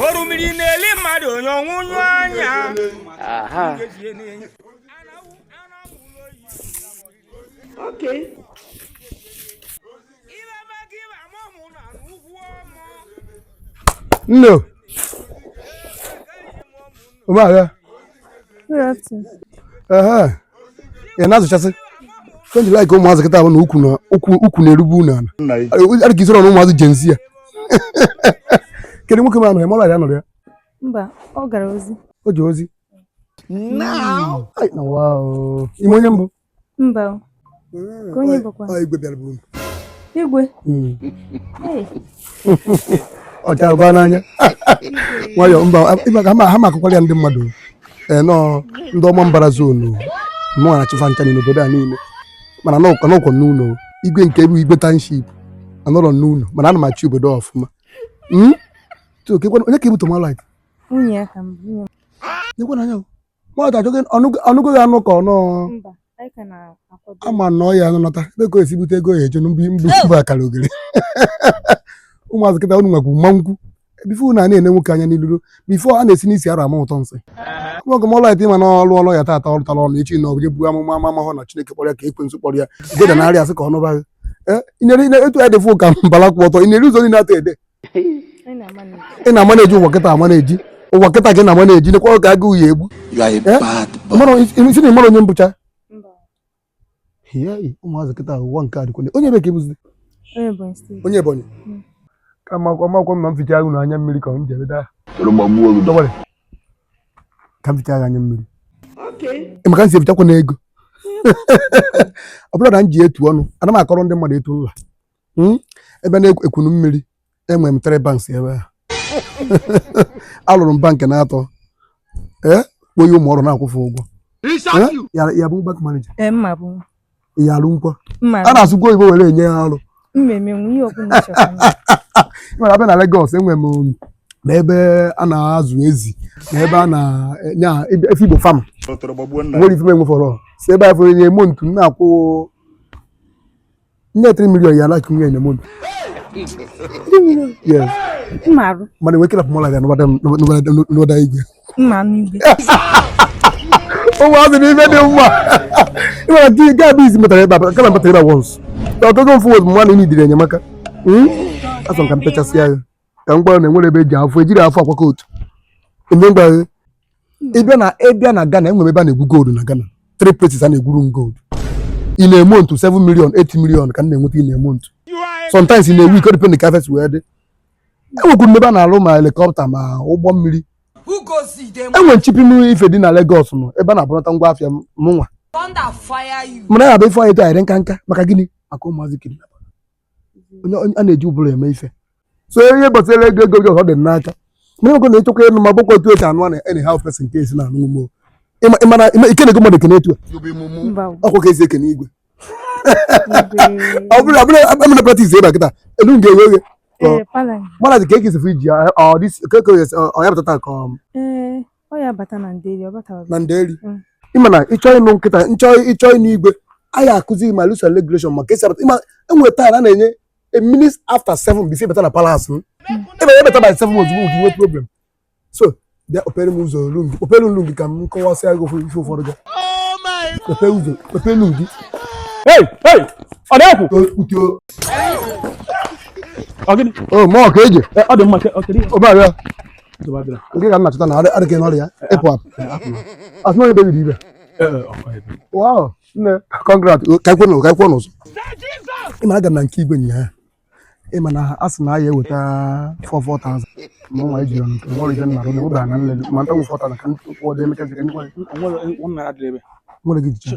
orimiri na-eli mmadụ onye ọnwụ nyụ anya aha Okay. nne o ụmụahịa ị na-azụchasị fenji like ụmụazị kịta bụ na ukwu na-erugbu unu ala adị ka i soro na ụmụazị Gen Z a kedu nwoke ma nọ ya mara ya nọrọ ya mba ọ gara ozi o ji ozi ị ma onye m bụ mba o. Mm, Ka onye ọ- bụkwa? ọ igwe bịara buru m igwe Mm. Hey, ọ chara baa n'anya nwayọ mba ịma ka ha ma- ha ma akụkwara ya ndị mmadụ ee nọọ ndị Ọmambara zone mụnwa na-achị fa ncha n'obodo a niile mana n'ụkọ n'ụkọ n'ụlọ igwe nke bụ igwe township anọrọ n'ụlọ mana ana m achị obodo a ọfụma Mm? So, kekwana- onye ka ị bụ tomalit nwunye ya ka m nwunye m. nyekwana anya o. nwata achọghị ọnụgo ya anụ ka ọ nọọ ama na ọ ya-anọta ebe ka o esi bute ego ya eje mbụ mbụ akara ogere ụmụazị kịta unu nwekwu mma nkwu before na na-ene nwoke anya n'iluru before a na-esi n'isi arụ ama ụtọ nsị nwoke ma alright ma na ọlụ ọlụ ya tata ọ lụtara ọlụ echi na ọ bụ amụma ama amahụ na Chineke kpọrọ ya ka ekwensu kpọrọ ya goda narị asị ka ọ nụbaghị eh, etu ya dịfụ ka mbala kwụ ọtọ ị na-eri ụzọ niile atọ ede ị na-amanage ụwa kịta amanage ụwa kịta gị na-amanage nekwa ka agụụ ya-egbu si na ị mara onye m bụcha ụmụazị kịta ụwa nke a dịkwale onye ebe ka ị bụzi onye Ebonyi hmm. ka makwa makwa ma m fichaa gị na anya mmiri ka m jere daa ka m fichaa gị anya mmiri maka m si efichakwa na ego ọ bụrụ na m ji etu ọnụ ana m akọrọ ndị mmadụ etu nla hmm? ebe a na Ekwulummiri enwere m three banks ebe a alụrụ m bank na-atọ ee kpoye ụmụ ọrụ na-akwụ fa ụgwọ ya bụ bank manager ya alụ nkwa a na-asụkwa oyibo were enye ya ọrụ nwere abịa na Lagos enwere m um, na ebe a na-azụ ezi na ebe a na-enya efi Igbo farm nwere ife m enwefọrọ si ebe afụ every month na-akwụ Nye 3 million naira every month. Yes. Mmarụ. Mana wekila pụmọla ya n'obodo igwe. Mma n'igwe. Ụmụazị na ife dị mma. Ịmara ka gaa bụ isi metara ebe a, kama metara ebe a once. Ọtụtụ mfụ wezụ mmanụ imi dịrị enyemaka. Asọ m ka m pechasịa ya. ka m gwara na enwere ebe eji afọ ejiri afọ akwa kootu eme ngwa ịbịa na ịbịa na Ghana enwere ebe a na-egwu gold na Ghana three places a na-egwuru m gold in a month 7 million 8 million ka m na-enweta in a month sometimes in a week depend ka afịa si wee dị enwekwuru m ebe a na-alụ ma helikọpta ma ụgbọ mmiri enwe m ship m ife dị na Lagos nọ ebe a na-ebunata ngwa afịa mụnwa mana ya bụ ife anyị tụ anyị dị n'aka n'aka maka gịnị maka ụmụazị kidnap onye onye- a na-eji ụbụrụ eme ife so ihe gbasara ego ego gị ọ dị n'aka mana ego na ịchọkwa ịnụ m abụkwa otu esi anụ a na any how person ka esi na-anụ m ịma ịmara ịma ike na ego mmadụ ekene etu a mba ọkwa ka esi ekene igwe ọ bụrụ abụrụ amana practice ebe a kịta elu m ga-eghe oghe ee pala mana dị ka ekesi fụ iji ọ dị ka ka ọ ya pụtata ka ọ ee Ọ ya bata na nderi, ọ bata na nderi. Mm. Ịma na ịchọ ịnụ nkịta, nchọ ịchọ ịnụ igwe, anyị akụzi gị ma rules and regulation ma ka esi abata. Ịma enwe time a na-enye a minute after seven before ị bata na palace m. Mm. Ebe ebata by seven ozugbo nke inwe problem. So, bịa kpepere m ụzọ olu gị, kpepere olu gị ka m kọwasịa gị ife ụfọdụ gị. Kpepere oh ụzọ, kpepere olu gị. Hey, hey, ọ na-ekwu. Ọ gịnị? Oh, mọ ka eji. Ọ dị mma o, kedụ. Ọ bịa. ngị ka m na-achọta na adịghị n'ọrịa ịpụ apụ asị na onye bebiri ibe wow nne congrats ka ekwe n'ụzọ ka ekwe n'ụzọ ị ma aga m na nke igwe nyaa ịma na a sị na a ya eweta 44,000 ma nwa ejiri ọnụ nke ọrụ ibe nnarụ n'obe a na nlele ma nta nwụfọta na ka ndị kwụọ dị emeka jiri nwere gị jicha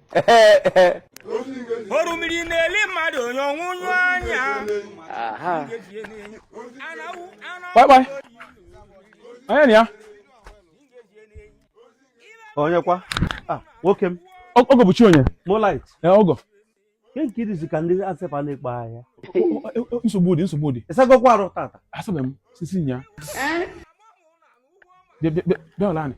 orimiri na-eli mmadụ onye ọnwụ nyụ anya kpakpai onye na ya onye kwa ah, nwoke m ọgọ bụ chi onye molit ọgọ nke nke idizi ka ndị asepa na-ekpe ahịa nsogbu dị nsogbu dị ịsagokwa arụ tata asabe m sisi nya bịa bịa bịa bịa ọla anyị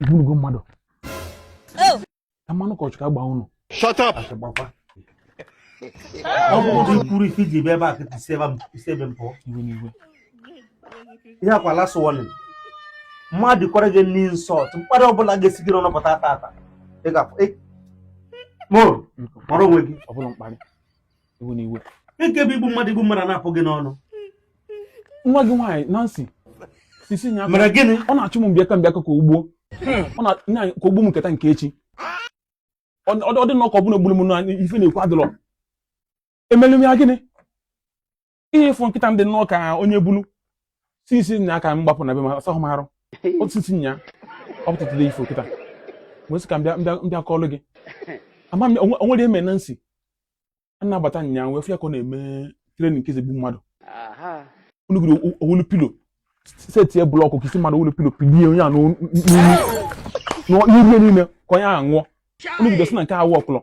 igbunugo mmadụ ka mmanụ ụkọchukwu agba unu Shut up! ọ bụrụ i kwurọ ife iji bịa kịta isi ebe m- isi ebe m pụọ iwe n'iwe ihe akwa last warning m adọkwara gị any insult mkparị ọbụla ga-esi gị n'ọnụ pụta tata ị ga-afụ mmụọ mara onwe gị ọ bụla mkparị iwe n'iwe nke bụ igbu mmadụ igbu mmadụ na-apụ gị n'ọnụ nwa gị nwaanyị Nancy sisi nya mere gịnị ọ na-achụ m bịa ka bịa ka ka o gbuo ọ na nya ka o gbuo m nke taa nke echi ọ dị nnọọ ka ọbụla gburu m na ife na-ekwu adịrọ emelu m ya gịnị ihe ị fụ kịta m dị nnọọ ka onye bulu si isi nya aka m gbapụ na be m asahụ m arụ otu isi nya ọ pụtatụla ifo kịta wee sị ka m bịa m bịa m bịa kọọlụ gị ama m onwe- onwere eme Nancy na-abata nya wee fụ ya ka ọ na-eme trenin nke ezigbo mmadụ unu gụrụ o- o welu pilo setie blọkụ ka isi mmadụ o welu pilo pilie onye a n'olu- n'olu- n'iru ya niile ka onye ahụ nwụọ unu gụrụ sị na nke awụ ọkụlọ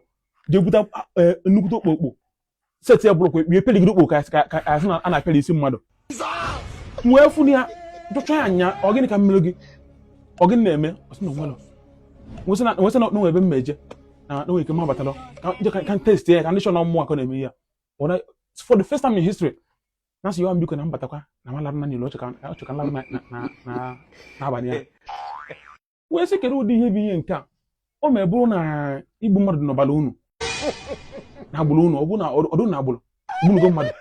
jee buta eh, nnukwute okpokpo setie blọkụ ekpughe pịlịgide okpo ka a sị na a na-apịara isi mmadụ wee fụ ya jụcha ya nya ọ gịnị ka m mere gị ọ gịnị na-eme ọ sị na o nwerọ nwesị na o nwe ebe m ma-eje na o nwe ike m abatarọ ka test ya ka m dị sure na ọ mụwa ka ọ na-eme ya for the first time in history Nancy yọwa m biko na m batakwa na m alarụ na niile ọ chọ ka m larụ n'abalị a wee sị kere ụdị ihe bụ ihe nke a ọ ma bụrụ na igbu mmadụ dị n'ọbara unu n'agbụrụ unu ọ bụ na ọ dụ n'agbụrụ gbunugo mmadụ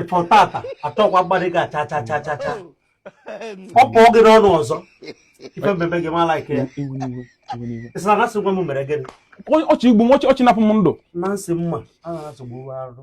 ịfọ tata achọkwa mmadụ ga cha cha cha cha cha ọ pụọ gị n'ọnụ ọzọ ife m mebe gị mala ike ya ị sị na Nancy nwa m mere gịnị ọ chọ igbu m ọ chọ ịnapụ m ndụ Nancy mma a na-asụgbu arụ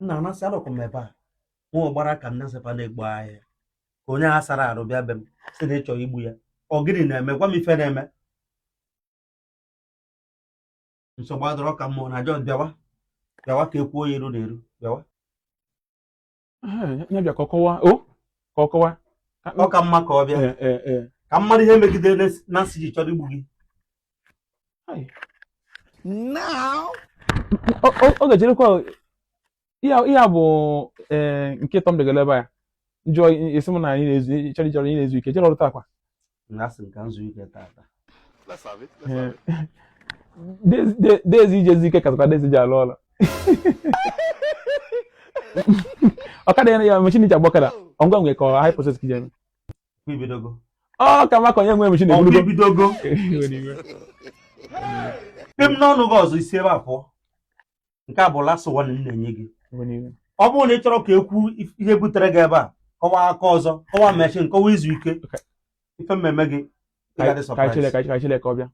nna Nancy anọkwa m ebe a nwa ọgbara ka nne sepa na-egbu ahịa ka onye a sara arụ bịa be m sị na ị chọ igbu ya ọ gịnị na-eme gwa m ife na-eme nsogbu adịrọ ka mụ na John bịawa bịawa ka e kwuo ya iru na iru bịawa ya bịa ka ọ kọwa o ka ọ kọwa ọ ka mma ka ọ bịa Ee, ee, ee. ka m mara ihe e megidere na- Nancy ji chọrọ igbu gị now ọ ga-ejerekwa ihe a bụ e, nke Tom degara ebe ya njọ esi m na anyị na-ezu chọrọ chọrọ anyị na-ezu ike jere ọrụ taa kwa dezi ijezi ike kasịkwa dezi ji alụ ọlụ ọkada ya ya mechin e ji agba ọkada ngwa nwere ka ọ hire purchase ka ijeme i bidogo ọ ka maka onye nwe m Chineke ọkwa i bidogo pem n'ọnụ gị ọzọ i si ebe a pụọ nke a bụ last one m na-enye gị ọ bụrụ na ị chọrọ ka ekwu ihe butere gị ebe a kọwa aka ọzọ kọwa mechin kọwa izu ike ife m ma-eme gị ọ ga-adị ka surprise. Chineke ka Chineke ọ bịa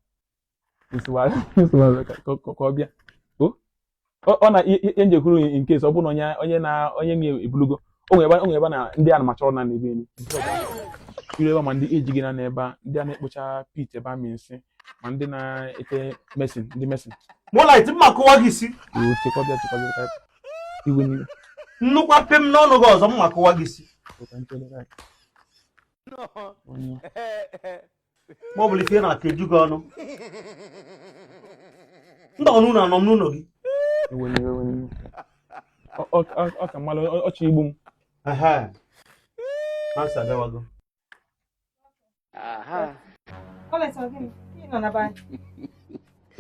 ka ọ bịa ọ na ihe m ji kwuru in case ọ bụrụ na onye na onye na ebulugo o nwere ebe na ndị a na-amachọrọ na n'ebe elu iru ebe ma ndị eji gị na n'ebe a ndị a na-ekpocha pit ebe a nsị ma ndị na-ete mesin ndị mesin mụlaiti m ma-akụwa gị isi chee ka ọ bịa chee ka ọ bịa ka iwe n'iwe nnukwu pem n'ọnụ gị ọzọ m ma-akụwa gị isi ma ọ bụla ife na aka eju gị ọnụ ndị ọnụ ụlọ anọ m n'ụlọ gị ọ ka mmalụ ọ chọ igbu m Nancy abịawago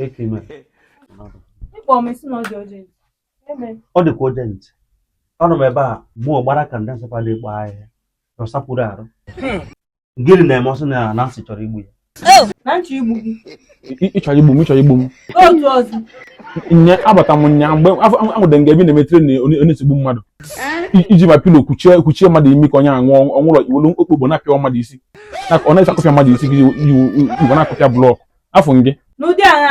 ekime ọ dịkwa urgent anọ m ebe a mụọ gbara ka ndị ANSEPA na-ekpo ahịhịa na ọsapụrụ arụ gịnị na-eme ọ sị na Nancy chọrọ igbu ya oh! ị chọrọ igbu m ị chọrọ igbu m nye abata m nya mgbe anwụde nga ebi na-emetere na onye esi egbu mmadụ iji ma pillow kwuchie kwuchie mmadụ imi ka onye ahụ nwụọ ọ nwụrọ i welu okpokpo na-apịa mmadụ isi ọ na-esi akụpịa mmadụ isi ji igwe na-akụpịa block afọ gị n'ụdị agha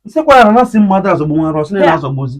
nsekwa ahụ na-asị mmadụ azọgbu nwa arọ sị na-azọgbuzi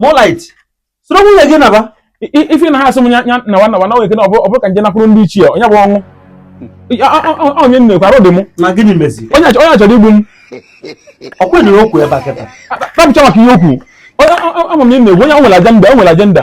Moonlight, soro nwunye gị naba ife ị na-asị m ya nawa nawa na nweke na ọ bụrụ ka nje nakwuru ndị ichie onye bụ Onowu onye nne kwara dị m onye achọrọ igbu m ọ kwenere okwu ebe a kịta tapụcha maka ihe o kwu ama m na ị na-egwu onye nwere agenda o nwere agenda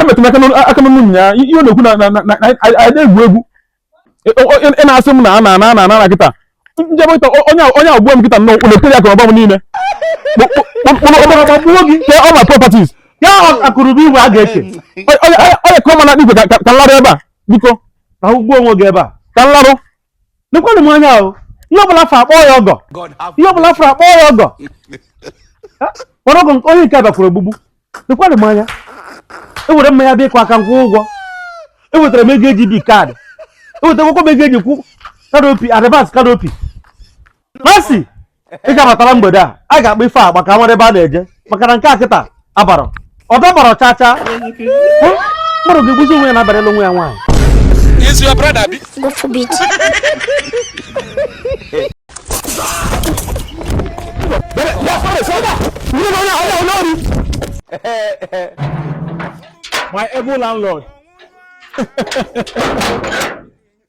emetụ m aka n'ọnụ nya ihe ọ na-ekwu na na- na na- na- anyị anyị na-egwu egwu Ị- ọ- ọ- ị na-asị m na a na ana ana ana na kịta njebe kịta ọ- onye a- onye a gbua m kịta nnọọ unu ekere akụnụba m niile Kpụ- kpụ- kpụ- kpụrụ ọbara ọbara gbagbuo gị kee all my properties ya akụnụba igwe a ga-eke Ọ- ọ- ọ- ọ ya ka ọ ma na igwe ka ka- ka nlarụ ebe a biko kwụgbuo onwe gị ebe a ka nlarụ lekwanụ m anya ahụ ihe ọbụla a fụrụ akpọ ya ọgọ God have ihe ọbụla a fụrụ akpọ ya ọgọ Ha? mana ọgọ nke- onye nke a bakwuru ogbugbu lekwanụ m anya ewere mmanya bịa ịkụ aka m kwụ ụgwọ ewetara m ego eji bi card ewetara akwụkwọ m ego eji kwụ canopy advance canopy Nancy ị ga-abatara mgbede a a ga-akpa ife agba ka nwere ebe a na-eje maka na nke a kịta abarọ ọ dabarọ cha cha mmadụ ga-egbuzi onwe ya na-abarịla onwe ya nwaanyị Is your brother bi? God forbid. My able landlord.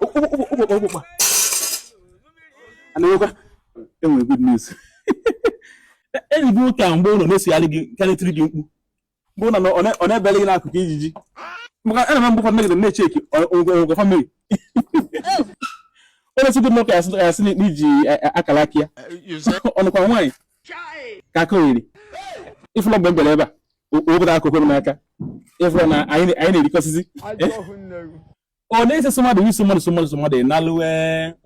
okpokpa anawekwa enwere good news enyi gị nwoke a mgbe ụlọ na-esogharị gị karịtịrị gị mkpu mgbe ụlọ ọ na-ebele gị n'akụkụ ka ijiji maka ana m mgbe ụfọdụ megide na-echeki ogwe family onye si gị nwoke ya sị n'iji akara aka ya ọ nụkwa nwaanyị ka aka oyiri ị fụlọ mgbe m bịara ebe a wepụta akụkụ m n'aka ịfụ na anyị na-erikọsịzi ọ na-ese sọ mmadụ iso mmadụ so mmadụ so mmadụ ịnalụwe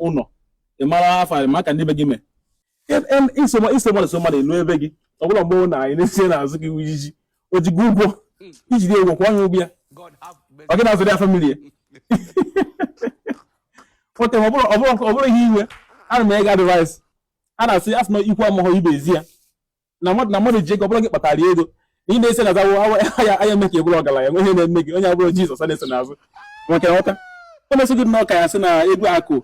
ụlọ ịmara afọ maka ndị be gị mee iso mmadụ so mmadụ ịlụ ebe gị ọ bụla mgbe na anyị na-esie n'azụ gị ijiji o ji gị ụgwọ ijide ụgwọ kwụa onye ụgwọ ya ọ gị na-azụrụ ya family ya okay ọ bụrụ ihe iwe ana m ega advice a na-asị asị na ikwu amaghọ ibe ezi ya na mmadụ na mmadụ ji ego ọ bụrọ gị kpatara ego ị na-ese na zawo anya anya eme ka ị bụrụ ọgaranya nwe ihe na-eme gị onye abụrọ jizọs a na-eso n'azụ nwekwee nghọta o na-eso gị nnọọ ka ya sị na egwu akụ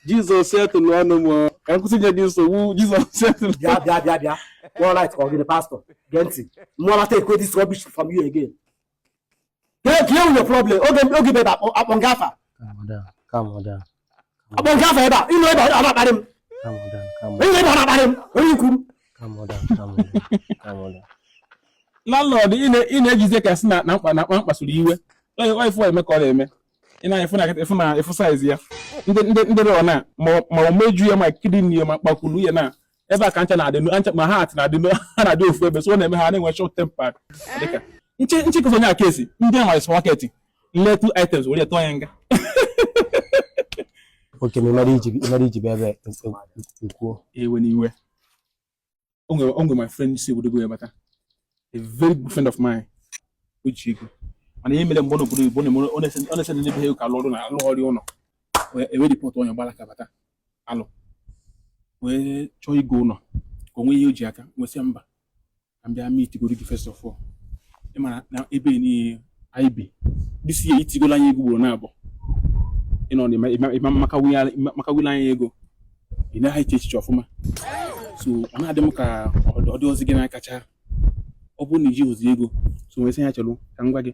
jizọs setụlụ ọnụ m ka m kwụsị inye gị nsogbu jizọs setụlụ bịa bịa bịa bịa all right ka ọ gịnị pastọ gee ntị I will not take this rubbish from you again Kee kee your problem oge oge ibe akpọ akpọ nga afa. Akpọ m gị afa ebe a ị nọ ebe a na-akparị m. Ị nọ ebe a na-akparị m onye ikwu m. Landlord ị na-ejizi ka sị na na mkpa na mkpa mkpasuru iwe. Onye onye fụ eme ka ọ na-eme. Ị na-afụ na-afụ na-afụ size ya. Ndị ndị ndị rọ na ma ma imeju ya ma kidney ya ma akpakwulu ya na ebe a ka ncha na-adị ncha ma heart na-adị ha na-adị ofu ebe so ọ na-eme ha na-enwe short tempered dịka nche nche kụzọ onye aka esi ndị a nwere supermarket nle two items were tụọ ya nga okay ma ịmara iji ịmara iji bịa ebe nkwuo ewena iwe o nwere o nwere my friend si obodo oyibo bata a very good friend of mine uche ego mana ihe mere mgbe ọ nọ obodo oyibo ọ na-ese ndị be ha ka alụ ọrụ na alụ ọrụ ụlọ ewe report onye gbara aka bata alụ wee chọọ igo ụlọ ka o nwee ihe o ji aka m wee sị ya mba ka m bịa meet godu gị first of all ị mara na ebe niile anyị bi this year i tiigolu anyị ego ugboro naabọ ị nọ na makawila anyị ego ị naghị eche echiche ọfụma so ọ na-adị m ka ọ dịrọzi gị n'aka cha ọ bụrụ na i jirọzi ego so m wee sị ya chelụ ka m gwa gị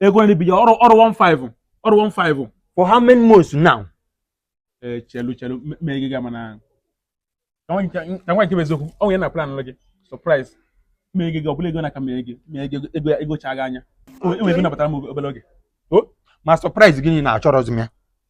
ego nri bido ọrụ ọrụ 15 ọrụ 15 for how many months now ee chelu chelu mee gị ga mana ka m gwa nke bụ eziokwu o nwere ihe m na-plan gị surprise mee gị gị ọ bụla ego na-aka mee gị mee gị ego ego chaa gị anya enwere ego na-abatara m obere oge ma surprise gị na achọrọzi m ya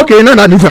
ok na na nisa.